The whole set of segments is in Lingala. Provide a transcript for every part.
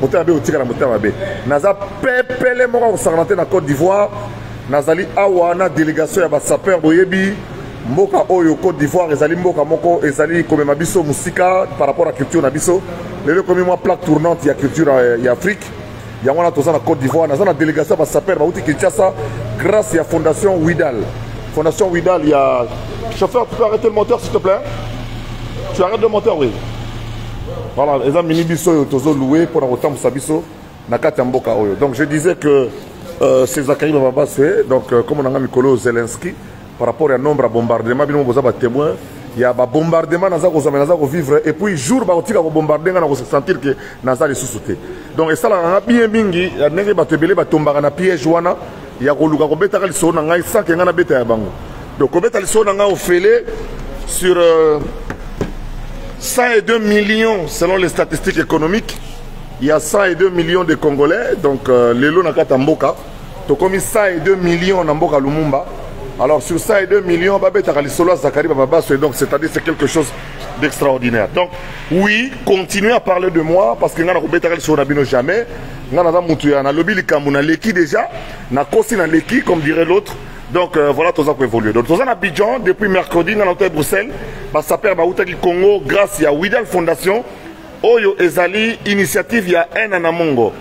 motema mabe otikala motema mabe naza pepele moko akosangana te na côte d'ivoire nazali awa na délégation ya basapeur boyebi mboka oyo côte d'ivoire ezali mboka moko ezali komema biso mosika par rapport ya culture na biso lelo ekomi mwa plaque tournante ya culture euh, ya afrique yango wana toza na côte d'ivoire naza na délégation ya basapeur bauti kinshasa grâce ya fondation widal fondation widal ya chauffeur tu peux arrêter le moteur s'il te plaît tu arrêtes le moteur oui Voilà, eza mini biso oyo tozo louer pour kotambusa biso na kati ya mboka oyo. Donc je disais que euh, c'est Zachary Babaswe, donc euh, comme on a mikolo Zelensky par rapport à nombre de bombardements bino boza ba témoins ya ba bombardement naza ko zama naza ko vivre et puis jour ba kotika ko bombarder nga na ko se sentir que naza lisusu te. Donc esala nga bien mingi ya ndenge bato ebele batombaka na piège wana ya koluka kobetaka lisolo na ngai sans ke ngai nabeta ya bango Donc, kobeta lisolo na ngai ofele sur euh, 102 millions selon les statistiques économiques. Il y a 102 millions de Congolais, donc euh, lelo na kata mboka. Tokomi 102 millions na mboka Lumumba. Alors sur 102 millions, babetaka lisolo ya Zachary Bababaso, et donc c'est-à-dire c'est quelque chose d'extraordinaire. Donc oui, continuez à parler de moi parce que nga na kobetaka lisolo na bino jamais. Nga naza mutu ya nalobi likambo na leki déjà, na kosi na leki comme dirait l'autre. Donc euh, voilà toza ko évoluer. Donc toza na Abidjan depuis mercredi na l'hôtel Bruxelles. Ba sapeurs ba utaki Congo grâce ya Widal Fondation. Oyo ezali initiative ya Ena Namongo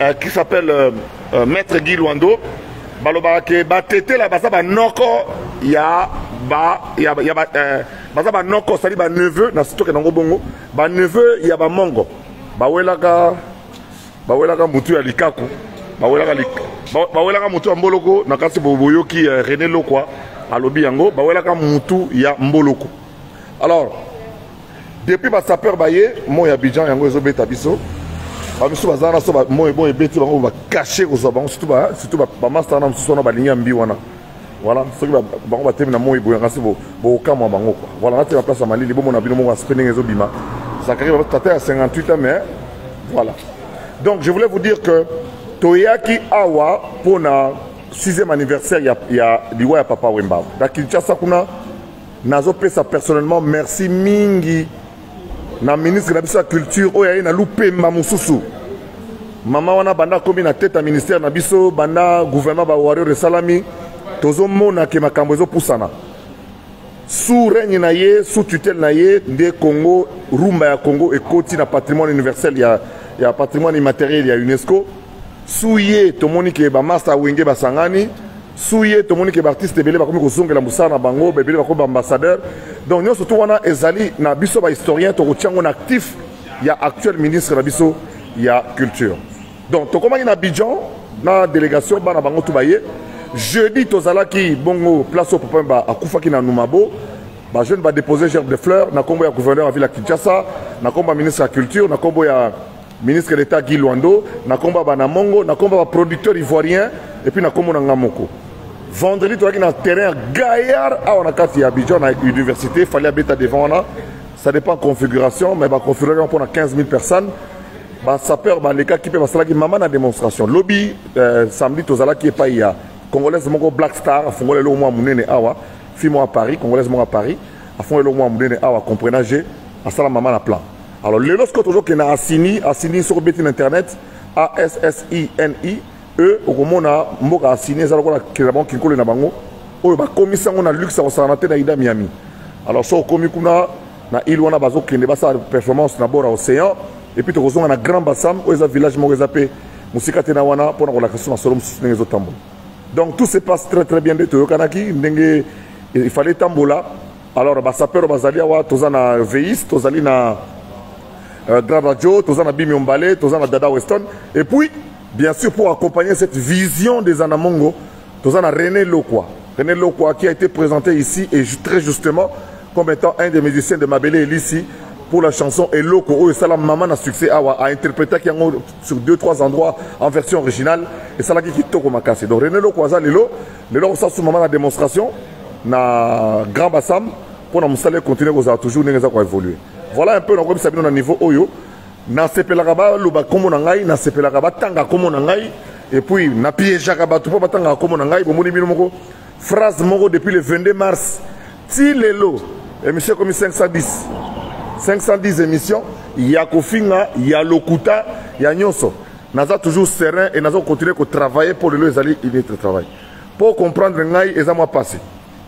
euh, qui s'appelle euh, euh, Maître Guy Luando. Balobaka ke ba tete la baza ba noko ya ba ya, ya ba euh, baza ba noko sali ba neveu na sitoke nango bongo ba neveu ya ba mongo. Ba welaka bawelaka mutu ya likaku bawelaka lik... bawelaka mutu ya mboloko na kasi boyoki uh, eh, René Lokwa alobi yango bawelaka mutu ya mboloko alors depuis ba sapeur baye moi ya Abidjan yango ezobeta biso bamisusu baza wana so moi bon ebeti bango ba cacher kozwa bango surtout ba surtout ba master na mosusu wana balingi ya mbi wana voilà soki bango batemi na moi boyanga se bokokamwa bango kua voilà natie na place ya malili bomona bino moko aspre ndenge ezobima zakari tata ya 58 ans mais voilà donc je voulais vous dire que toyaki awa mpo na 6e anniversaire ya, ya liwa ya papa wemba na kinshasa kuna nazopesa personnellement merci mingi na ministre na biso ya culture oyo aye na lupemba mosusu mama wana banda akomi na tete ya ministère na biso banda gouvernement bawario esalami tozomona ke makambo ezopusana sous règne na ye sous tutelle na ye nde congo rumba ya congo ekoti na patrimoine universel ya, ya patrimoine immatériel ya unesco sous ye tomoni ke bamasta wenge basangani suye tomoni ke baartiste ebele bakomi kozongela mosala na bango ebele bakomi baambassadeur donc nyonso tu wana ezali na biso bahistorien tokotya yango na actif ya actuel ministre na biso ya culture donc tokomaki na abidjan na délégation bana bango tu baye jeudi tozalaki bongo place oyo papa mba akufaki na numabo bajeune badepose gerbe de fleur na nkombo ya gouverneur ya ville ya kinshasa na nkombo ya ministre ya culture na nkombo ya ministre d'etat guy lwando na nkombo ya banamongo na nkombo ya baproducteur ivoirien epuis na nkombo na ngai moko vendredi tozalaki na terrain ya gaillard awa na kati ya abidjan na université fali abeta devant wana ça dépend configuration mais baconfiguration mpo na 15 000 personnes basapeur balekaki mpe basalaki mama na démonstration lobi euh, samedi tozalaki epai ya congolaise moko black star afungoli eloko mwa monene awa fi mwa paris congolaise moko ya paris afungoli eloko mwa monene awa comprenage asala mama na plan Alors lelo sikoyo tozokenda asini asini soki obeti na internet assini e okomona mboka asini eza lokola kelabon kinkole na bango oyo bakomisi yango na luxe ya kosangana te na ida miami alors soki okomi kuna na ile wana bazokende basala performance na bord ya océan epuis tokozonga na grand bassam oyo eza village moko eza mpe mosika te na wana mpo na kolakisa so masolo mosusu ndenge ezotambola donc tout se passe très très bien nde toyokanaki ndenge ifale etambola alors basapero bazali awa toza na veis tozali na euh, grand radio toza na bimi ombale toza na dada weston et puis bien sûr pour accompagner cette vision des anamongo toza na rené lokwa rené lokwa qui a été présenté ici et très justement comme étant un des musiciens de mabele elisi pour la chanson eloko oyo esala mama na succès awa a interprétaki yango sur deux trois endroits en version originale esalaki kitoko makasi donc rené lokwa aza lelo lelo kosasu mama na démonstration na grand basam mpo na mosala econtinue kozala toujours ndenge eza koevolue voilà un peu nakoyebisa bino na niveau oyo nasepelaka baloba nkombo na ngai nasepelaka batanga nkombo na ngai epuis napiejaka bato mpo batangaka nkombo na ngai bomoni bino moko phrase moko depuis le 22 mars ti lelo émission ekomi 510 510 émission ya kofinga ya lokuta ya nyonso naza toujours serein et nazo continuer ko travailler pour lelo ezali une autre travail pour comprendre ngai eza mwa passé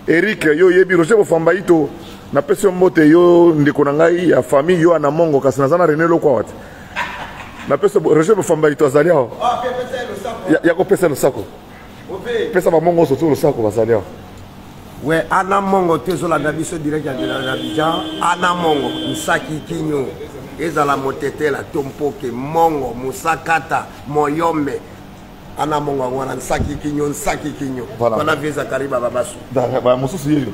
Eric yo yebi Roger Bofamba ito na pesi yo mbote yo ndeko na ngai ya famille yo ana mongo kasi naza na René Lokwa wati na pesi Roger Bofamba ito azali awa ya, ya kopesa losako pesa bamongo oso to losako bazali awa we ana mongo te ezolanda biso direct ya abidjan ana mongo nsaki kinyo ezala motetela to mpoke mongo mosakata moyombe ana mongo yango wana nsaki kinyo nsaki kinyo wana vie zakari bababasu mosusu yeyo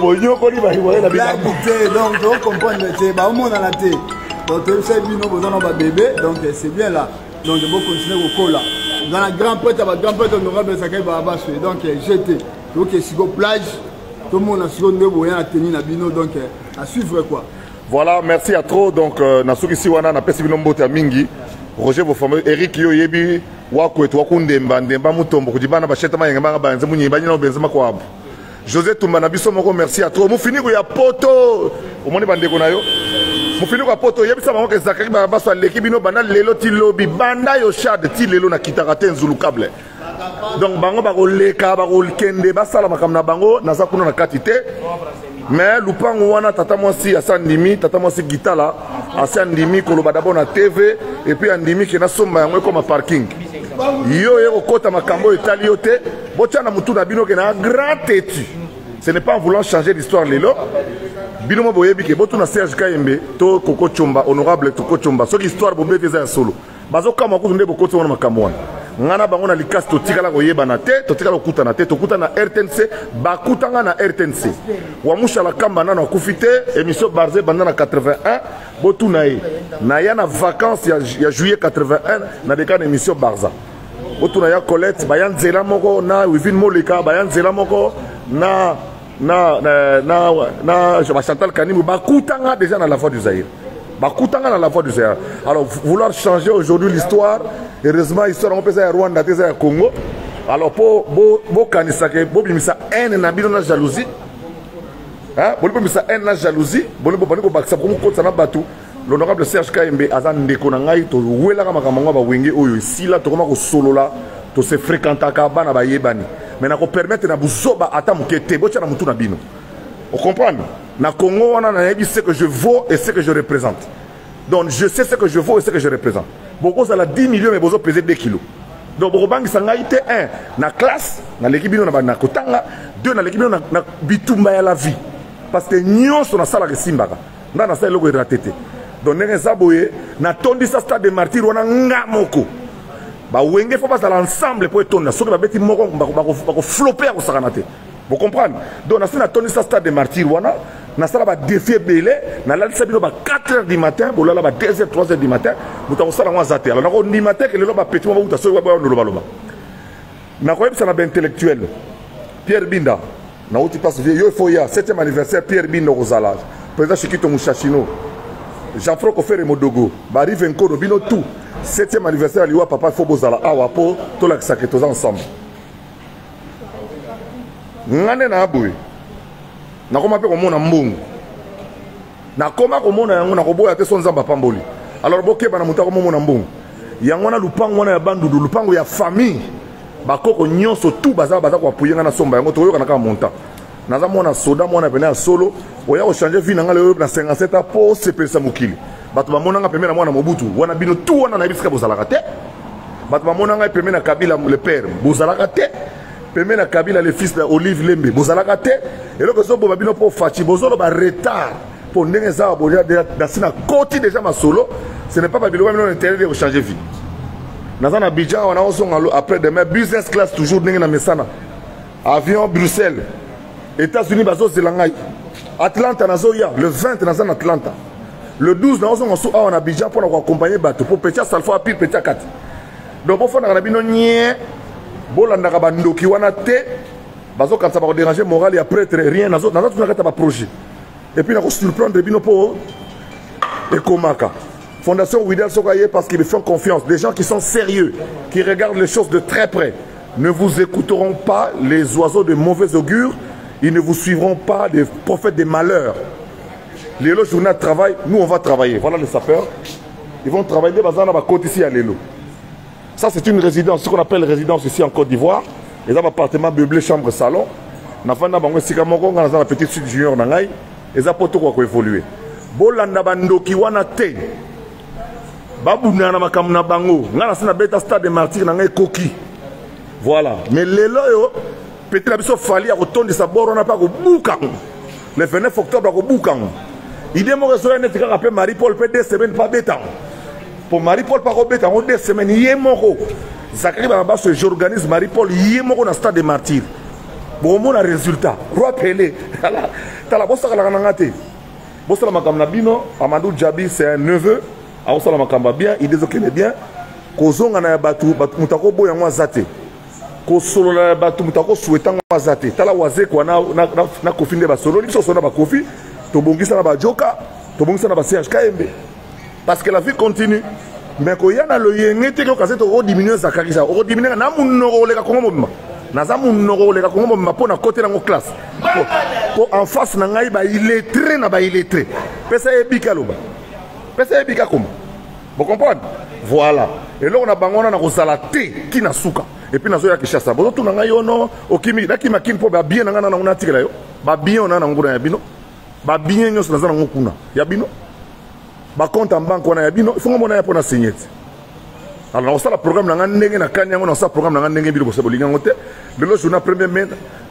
bonyokoli bahiwale na bilako te donc tocomprendre te baomonana te donc toyebisa bino boza na babebe donc c'est bien là donc bocontinue kokola oza na grand prêtre ya bagrand prêtre honorable esakai baabaswe donc jete toke siko plage tomona siko nde boya na teni na bino donc à suivre quoi voilà merci à trop donc euh, nasukisi wana napesi bino mbote ya mingi roger bofameux eric yo oyebi wakwetu wakundemba ndemba mutombo kudi bana basheta mayenge mbanga banze munyi banyina obenze makwabu josé tumba na biso moko merci ya trop mufiniku ya poto omoni bandeko na yo mufiniku ya poto oyebisa bango ke zakari barabaso aleki bino banda lelo ti lobi banda yo shade ti lelo na kitaka te nzulukable donc bango bakoleka bakokende basala makambo na bango naza kuna na kati te mais lupangu wana tata mwasi asi andimi tata mwasi gitala asi andimi koloba dabord na tv epuis andimi ke nasomba yango ekoma parking yo oye kokota makambo oyo etali yo te botya na motu na bino ke na grand tetu ce n'est pas en voulant changer l'histoire lelo bino mo boyebi ke botuna serge kayembe to koko comba honorable toko comba soki histoire bobeti eza ya solo bazokamwa kutu nde bokoti wana makambo wana ngai na bango na likasi totikala koyebana te totikala kokutana te tokutana na rtnc bakutanga na rtnc wamushala kamba nano akufi te émission barze ebanda na 81 botuna ye naya na vacance ya, ya juillet 81 na deka na émission barza botuna ya colette baya nzela moko na wivine moleka baya nzela moko na na na na, na Jean Chantal Kanimbu bakutanga déjà na la voix du Zaïre bakutanga na la voix du Zaïre alors vouloir changer aujourd'hui l'histoire heureusement histoire yango mpeza ya Rwanda te eza ya Congo alors mpo bokanisaka bobimisa haine na bino na jalousie boni bobimisa haine na jalousie boni bobandi kobakisa komokotisa na bato L'honorable Serge Kaembe aza ndeko na ngai towelaka makambo yango ya bawenge oyo esila tokoma kosolola tose fréquentaka bana bayebani me na kopermettre na buzoba ata moke te botya na motu na bino ocomprendre na congo wana nayebi ce que je vaux et ce que je représente donc je sais ce que je vaux et ce que je représente bokozala 10 millions me bozo pese 2 kilos donc bokobangisa ngai te un na classe naleki bino na kotanga deux naleki bino na bitumba ya la vie parce que nyonso nasalaka esimbaka nga nasala eloko erate te donc ndenge eza boye natondisa stade de martyr wana nga moko bawenge fo bazala ensemble mpo etonda soki babeti moko bakoflope ya kosakana te bocomprendre donc nasi natondisa stade de martyr wana nasala badefi ebele nalalisa bino ba 4 heures du matin bolala ba 2 heures 3 heures du matin moto akosala yango aza te alors nakondima te ke lelo bapeti mwa bauta soki baboya ndolobaloba nakoyebisa na baintellectuel pierre binda nauti place vie yo ifo ya 7e anniversaire pierre binda okozala président shikito mushashino jean franco fere modogo barive nkono bino tout 7e anniversaire ya liwa papa ifo bozala awa mpo tolakisake toza ensemble nga nde naa boye nakoma mpe komona mbongo nakoma komona yango nakoboya te so nzambe apamboli alors bokeba na moto akomomona mbongo yango wana lupango wana ya bandudu lupango ya famille bakoko nyonso tu baza baza koapuye ngai nasomba yango tokoyokana kaka montant naza mwana soda mwana pene ya solo oya kochange vie na ngai leyo na 57 a mpo osepelisa mokili bato bamona ngai pembe na mwana mobutu wana bino tu wana nayebi sika bozalaka te bato bamona ngai pembe na kabila le père bozalaka te peme na kabila le fils na olive lembe bozalaka te eloko ezoboma bino mpo faci bozoloba retard mpo ndenge eza boya dasi na koti deja masolo ce n'est pas babiloko bino na intérêt de kochanger vie naza na bidjan wana ozonga après demain business class toujours ndenge na mesana avion bruxelles états-unis bazozela ngai atlanta nazoya le 20 naza na atlanta le 12 naozonga su awa na bidjan mpo na koaccompagne bato mpo petit asalfo apire petit akati donc bofandaka na bino nye bolandaka bandoki wana te bazokanisa bakoderange morale ya pretre rien naza tuna kati ya baprojet epuis nakosurprendre bino mpo ekomaka fondation widel soki aye parce qu'ils font confiance des gens qui sont sérieux qui regardent les choses de très près ne vous écouteront pas les oiseaux de mauvais augure ils ne vous suivront pas des prophètes des malheurs lelo journée de travail nous on va travailler voilà les sapeurs Ils vont travailler des bazana ba côte ici à Lelo. Ça c'est une résidence, ce qu'on appelle résidence ici en Côte d'Ivoire. Ils ont appartement meublé, chambre, salon. Na fanda bango esika moko nga na petite sud junior na ngai eza poto kwa ko évoluer. Bolanda bandoki wana te. Babuna na makambo na bango. Nga na sina beta stade de martyr na ngai koki. Voilà. Mais lelo yo Petit na biso Fally akotondisa bord wana mpe akobuka yango le 29 octobre akobuka yango idée moko ezoya neti kaka mpe marie paul mpe deux semaines mpe abeta yango mpo marie paul mpe akobeta yango deux semaines ye moko zakari banabaso j'organise marie paul ye moko na stade de martyr bokomona résultat roi pele tala bosakalaka na nga te bosala makambo na bino amadou djabi c'est un neveu akosala makambo ya bien idée ezokende bien kozongana ya bato moto akoboya yango aza te kosolola na bato moto akosweta yango aza te tala wazekwa na, na, na, na kofi nde basololi biso osolo na bakofi tobongisa na bajoka tobongisa na ba serge kayembe parce que la vie continue mais koya na loyenge te kioka se tokodiminue zakari sa okodiminue na monoko koleka kongo mobimba naza monoko koleka kongo mobimba mpo na kote nango classe mpo en face na ngai baillettre na baillettre pesa ye bika loba pesa ye bika koma Bo comprendre? Voilà. Eloko na bango wana nakozala te ki na suka. Et puis nazoya Kinshasa. Bozo tuna ngai yo no okimi na kima kin po ba bien na ngana na ngona tikela yo. Ba bien ona na ngona ya bino. Ba bien nyoso naza na ngo kuna. Ya bino. Ba compte en banque wana ya bino. Faut ngomona ya pona signete. Alors nakosala programme na ngai ndenge na kani yango nakosala programme na ngai ndenge bino bosa bolingi yango te. Lelo journée premier mai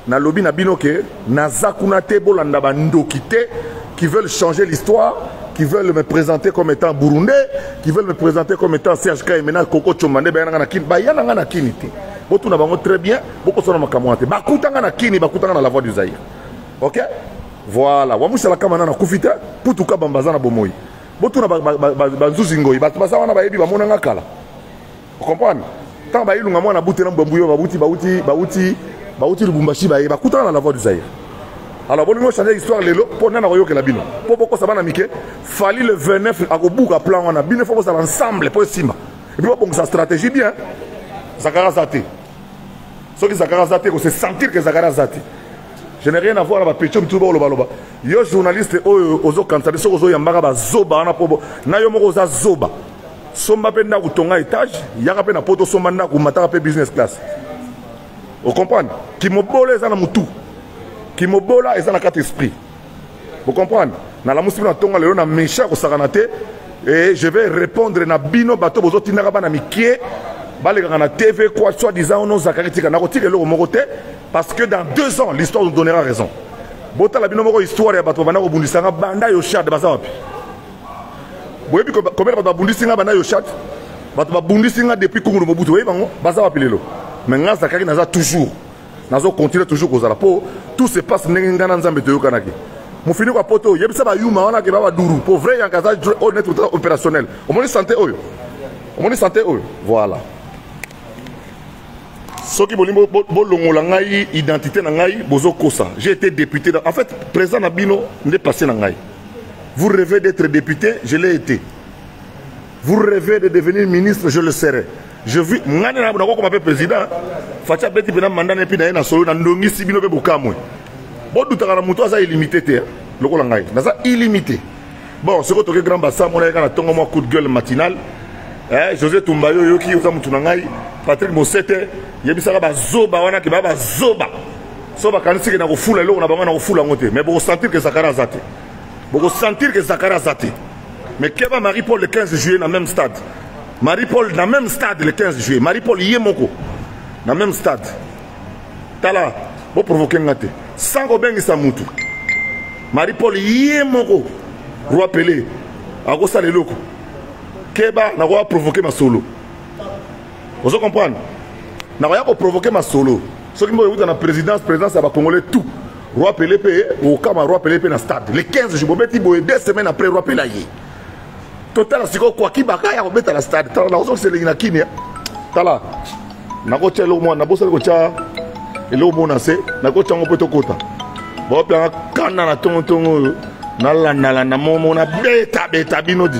Nalobi na bino que naza kuna te bolanda ba ndoki te qui veulent changer l'histoire qui veulent me présenter comme étant burundais qui veulent me présenter comme étant Serge Kaimena Koko Chomande ba yana na kin ba yana na kin te botuna bango très bien bokosona makambo te bakutanga na kini bakutanga na la voix du Zaïre ok voilà wamusala kama nana kufi te putu kabamba aza na bomoi botuna banzuzi ngoi bato baza wana bayebi bamonanga kala Comprendre? Tant ba ilunga mwana bute na mbambu yo babuti bauti bauti bauti Lubumbashi baye bakutana na la voix du Zaïre. Alors bon nous changer histoire lelo pour nana koyokela bino. Po boko sabana mike fali le 29 akobuka plan wana bino faut bosala ensemble po esimba. Et puis bon sa stratégie bien. Zakara zate. Soki Zakara zate ko se sentir que Zakara zate. Je n'ai rien à voir na ba pecho mituba oloba loba. Yo journaliste oyo ozo kanisa biso ozo yambaka ba zoba wana po na yo moko oza zoba. somba mpe ndako tonga etage yaka mpe na poto somba ndako mataka mpe business class ocomprendre kimobola eza na motu kimobola eza na kati esprit ocomprendre nalamusi bino natonga lelo na mesha kosakana te e je vais répondre na bino bato bozotindaka bana mikie balekaka na tv quoi soit disant ono zakari tika nakotika eloko moko te parce que dans deux ans l'histoire nous donnera raison botala bino moko histoire ya bato babanda kobundisanga banda yoshad baza wapi boyebi combien bato babundisi nga bana yoshat bato babundisi nga depuis kungulu mobutu boyebi bango baza wapi lelo mais nga zakari naza toujours nazo continuer toujours kozala mpo tout se passe ndenge ngai na nzambe toyokanaki mofiniko ya poto oyo yebisa bayuma wana ke babaduru mpo vrai yanka aza honnête opérationnel omoni sante oyo omoni sante oyo voilà soki bolingi bolongola ngai identité na ngai bozokosa j'ai été député en fait président na bino nde passé na ngai vous rêvez d'être député je l'ai été vous rêvez de devenir ministre je le serai je vis ngai nde nakokoma mpe président faci abeti mpena manda na epi na ye na solo nandongisi bino mpe bokamwe bodutaka na moto aza illimité te lokola ngai naza illimité bon soki otoke grand basa amonaki kaka na ntongo mwa coup de gueule matinal eh, josé tumba yo oyoki oza motu na ngai patrik mosete yebisaka bazoba wana ke baya bazoba so bakanisike na kofula eloko na bango na kofula yango te mais bokosentir ke zakari aza te bokosentir ke zakari aza te mais keba marie paul le 15 juillet na même stade marie paul na même stade le 15 juillet marie paul ye moko na même stade tala bo provoke nga te sans kobengisa mutu marie paul ye moko roi pele akosala eloko keba nakoya provoke masolo ozo comprendre nakoya koprovoke masolo soki mboka ekuta na présidence présidence ya bacongolais tout roi pele mpe okama roi pele mpe na stade le 15 jour bobeti boye deux semaines après roi pele aye totala sikoyo kwaki baka ya kobeta na stade tala nakozokisa elengi na kimia tala nakotya eloko mwana nabosani kotya eloko moko na se nakotya yango mpo tokota baopianga kanda na tongotongo oyo nalandalanda momo na betabeta bino di